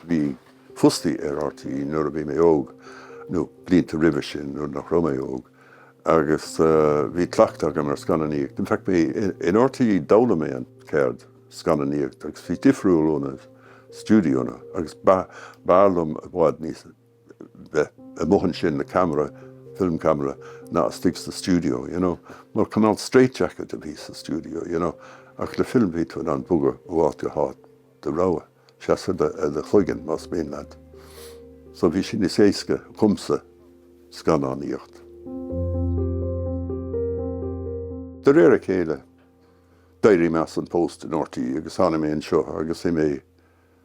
Bhí mé fostaithe ag RTÉ nuair a bhí mé óg, nó blianta roimhe sin nuair nach raibh mé óg, agus bhí cleachtadh agam ar scannánaíocht. In fact, in RTÉ d'fhoghlaim mé an cheird scannánaíocht agus bhí difriúil ó na stiúideonna agus b'fhearr liom i bhfad níos. bheith amuigh ansin le ceamara, film camera, ná istigh sa stiúideo, you know. Mar cineál straight jacket a bhí sa stiúideo, you know, ach le film bhí tú in ann bogadh ó áit go háit do rogha, seasamh ar do chloigeann más mian leat. So bhí sé níos éasca dhomsa scannánaíocht. De réir a chéile, d'éirigh mé as an post in RTÉ agus tháinig mé anseo agus bhí mé.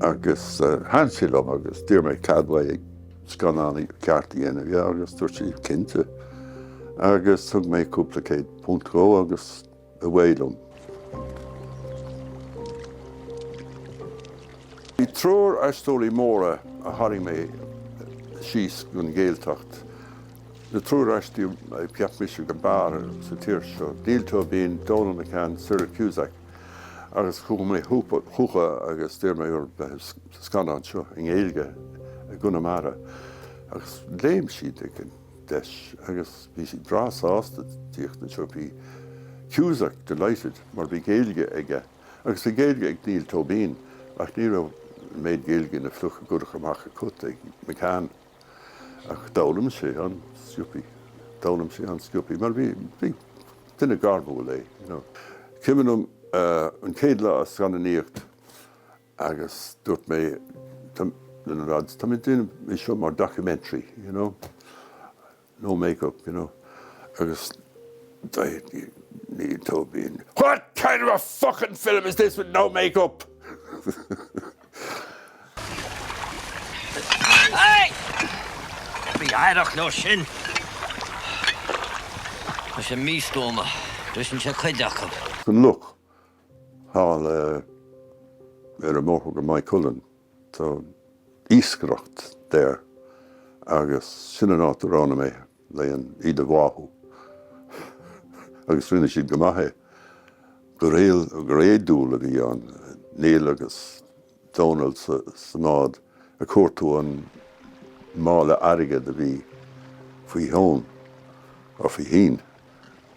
Agus thaithin sé liom agus d'iarr mé cead uaidh scannán ceart a dhéanamh dhe agus dúirt sé cinnte. Agus thug mé cúpla céad punt dhó agus away liom. Bhí triúr aisteoirí móra a tharraing mé síos gon Ghaeltacht, na triúr aisteoirí a cheap mise ab fhearr sa tír seo, Niall Tóibín, Donal McCann, Cyril Cusack. Agus chuaigh mé chucu agus d'iarr mé orthu bheith sa scannán seo i nGaeilge i gConamara agus léim siad ag an deis agus bhí siad breá sásta tíocht anseo. Bhí Cusack delighted mar bhí Gaeilge aige agus bhí Gaeilge ag Niall Tóibín ach ní raibh an méid Gaeilge ina phluc a chuirfeadh amach an cat ag McCann. Ach d'fhoghlaim sé an-sciobtha. D'fhoghlaim sé an-sciobtha mar bhí, bhí, duine gairmiúil é, you know. Cuimhin liom an chéad lá sa scannánaíocht agus dúirt mé leis na lads, tá mé ag déanamh é seo mar documentary, you know. no make up, you know, agus dúirt Niall Tóibín, What kind of a fuckin' film is this with no make up? Bí aireach leo sin. Tá sé místuama. Briseann sé cuid acu. Look, Thall ar an mbóthar go Maigh Cuilinn, tá iascaireacht there agus sin an áit a roghnaigh mé le iad a bháthú agus rinne siad go maith é. Go ré, go réadúil a bhí ann, Niall agus. Dónall, Sa, sa mbád a chuir tú an mála airgid a bhí faoi Fheoghan, or faoi féin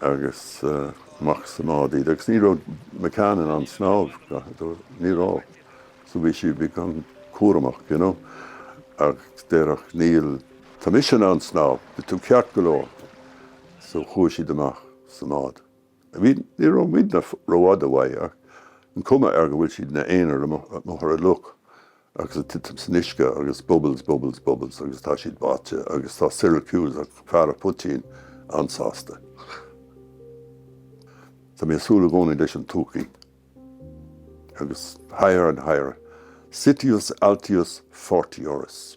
agus amach sa mbád iad agus ní raibh McCann in ann snámh, ní raibh, so bhí sí, bhí an-chúramach you know agus deireadh Niall tá mise in ann snámh, beidh tú ceart go leor so chuaigh siad amach sa mbád. Bhí, ní raibh muidne rófhada uathu ach an cuma air go bhfuil siad ina n-aonar amuigh ar an loch agus ag titim san uisce agus bubbles, bubbles, bubbles agus tá siad báite agus tá Cyril Cusack, fear a' phoitín, an-sásta. Tá mé ag súil i gcónaí leis an todhchaí agus higher and higher, Citius Altius Fortiorus.